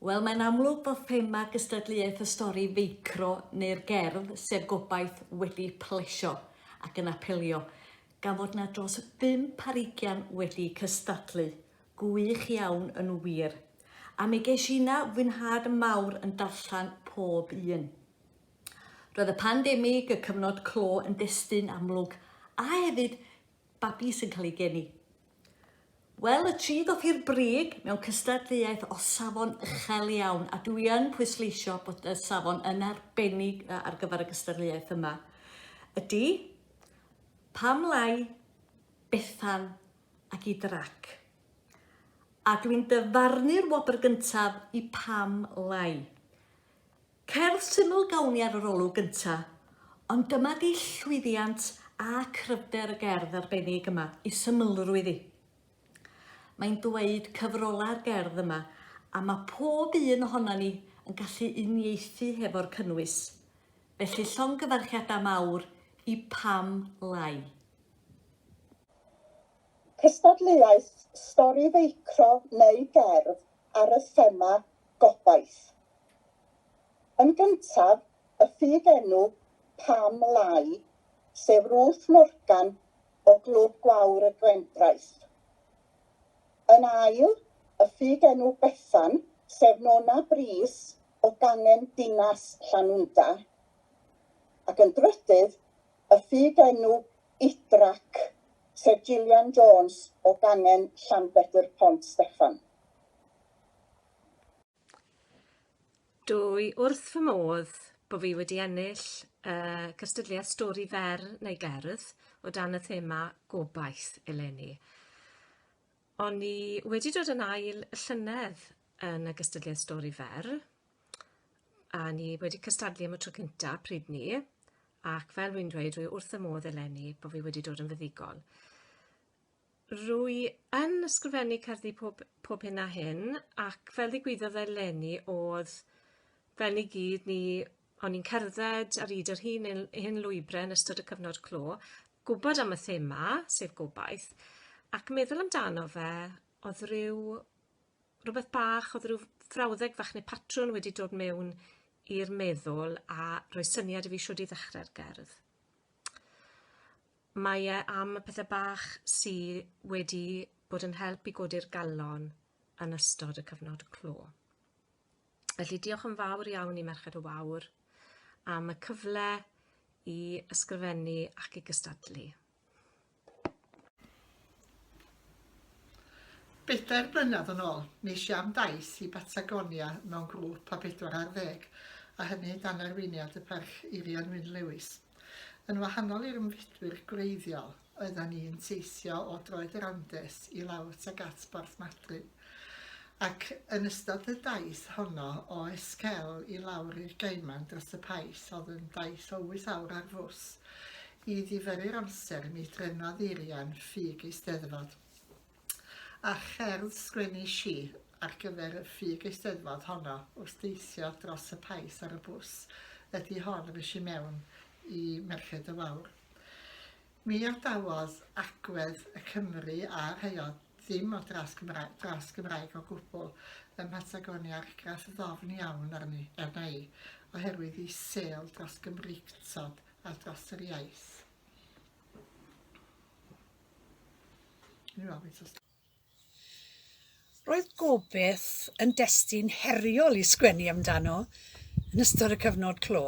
Wel, mae'n amlwg bod thema gystadleuaeth y stori feicro neu'r gerdd, sef gobaith, wedi plesio ac yn apelio, gan fod na dros bump ar ugian wedi cystadlu. Gwych iawn yn wir. A mi gesh i na fwynhad mawr yn darllen pob un. Roedd y pandemig, y cyfnod clo, yn destun amlwg, a hefyd babi sy'n cael ei geni. Wel, y tri ddoth i'r brig mewn cystadleuaeth o safon uchel iawn, a dwi yn pwysleisio bod y safon yn arbennig ar gyfer y gystadleuaeth yma. Ydy, pam lai, Bethan ac i drac. A dwi'n dyfarnu'r wobr gyntaf i pam lai. Cerdd syml gawn ni ar yr olwg gynta, ond dyma di llwyddiant a cryfder y gerdd arbennig yma, i symlrwydd i. Mae'n dweud cyfrola'r gerdd yma, a mae pob un ohona ni yn gallu uniaethu hefo'r cynnwys. Felly llongyfarchiadau mawr i Pam Lai. Cystadleuaeth stori feicro neu gerdd ar y thema 'Gobaith'. Yn gyntaf, y ffug enw Pam Lai, sef Ruth Morgan o Glwb Gwawr y Gwendraeth. Yn ail, y ffug enw Bethan, sef Nona Brys o gangen Dinas Llanwnda. Ac yn drydydd, y ffug enw Idrac, sef Gillian Jones o gangen Llanbedr Pont Steffan. Dwy wrth fy modd bo fi wedi ennill y cystadleuaeth stori fer neu gerdd o dan y thema gobaith eleni. O'n i wedi dod yn ail llynedd yn y gystadleuaeth stori fer a ni wedi cystadlu am y tro cynta pryd 'ny ac fel wi'n dweud dwi wrth fy modd eleni bo fi wedi dod yn fuddugol. Rwy yn ysgrifennu cerddi pob pob hyn a hyn ac fel ddigwyddodd eleni o'dd fel ni gyd ni o'n i'n cerdded ar 'yd yr hyn un hen lwybre yn ystod y cyfnod clo, gwbod am y thema, sef gobaith, ac meddwl amdano fe o'dd ryw rwbeth bach o'dd ryw frawddeg fach ne' patrwn wedi dod mewn i'r meddwl a rhoi syniad i fi shwd i ddechre'r gerdd. Mae e am y pethe bach sy wedi bod yn help i godi'r galon yn ystod y cyfnod clo. Felly diolch yn fawr iawn i Merched y Wawr am y cyfle i ysgrifennu ac i gystadlu. Bedair blynedd yn ôl, mis Jan dais i Batagonia mewn grŵp o bedwar ar ddeg, a hynny dan arweiniad y Parch Eirian Wyn Lewis. Yn wahanol i'r ymfudwyr gwreiddiol, oeddan ni'n teithio o droed yr Andes i lawr tuag at Borthmadryn, ac yn ystod y daith honno o Esquel i lawr i'r Gaiman dros y Pais, oedd yn daith o wyth awr ar fws, I ddifyrru'r amser, mi drenodd Irian ffug Eisteddfod. A cherdd sgwennish i ar gyfer y ffug Eisteddfod honno wrth deithio dros y Paes ar y bws ydi hon res i mewn i Merched y Wawr. Mi adawodd agwedd y Cymry a rhai o ddim o dras Gymraeg, dras Gymraeg o gwbl ym Mhatagonia argraff ddofn iawn arni, arna i, oherwydd i sêl dros Gymreictod ar dros yr iaith. Roedd gobeith yn destun heriol i sgwennu amdano yn ystod y cyfnod clo.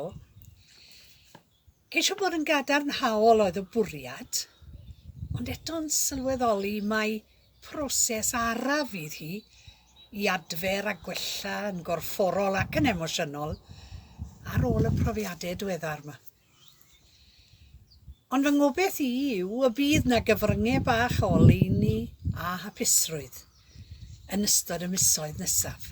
Ceisio bod yn gadarnhaol oedd y bwriad, ond eto'n sylweddoli mai Proses araf fydd hi i adfer a gwella yn gorfforol ac yn emosiynol ar ôl y profiadau diweddar 'ma. Ond fy ngobeth i yw y bydd 'na gyfryngau bach o oleuni a hapusrwydd yn ystod y misoedd nesaf.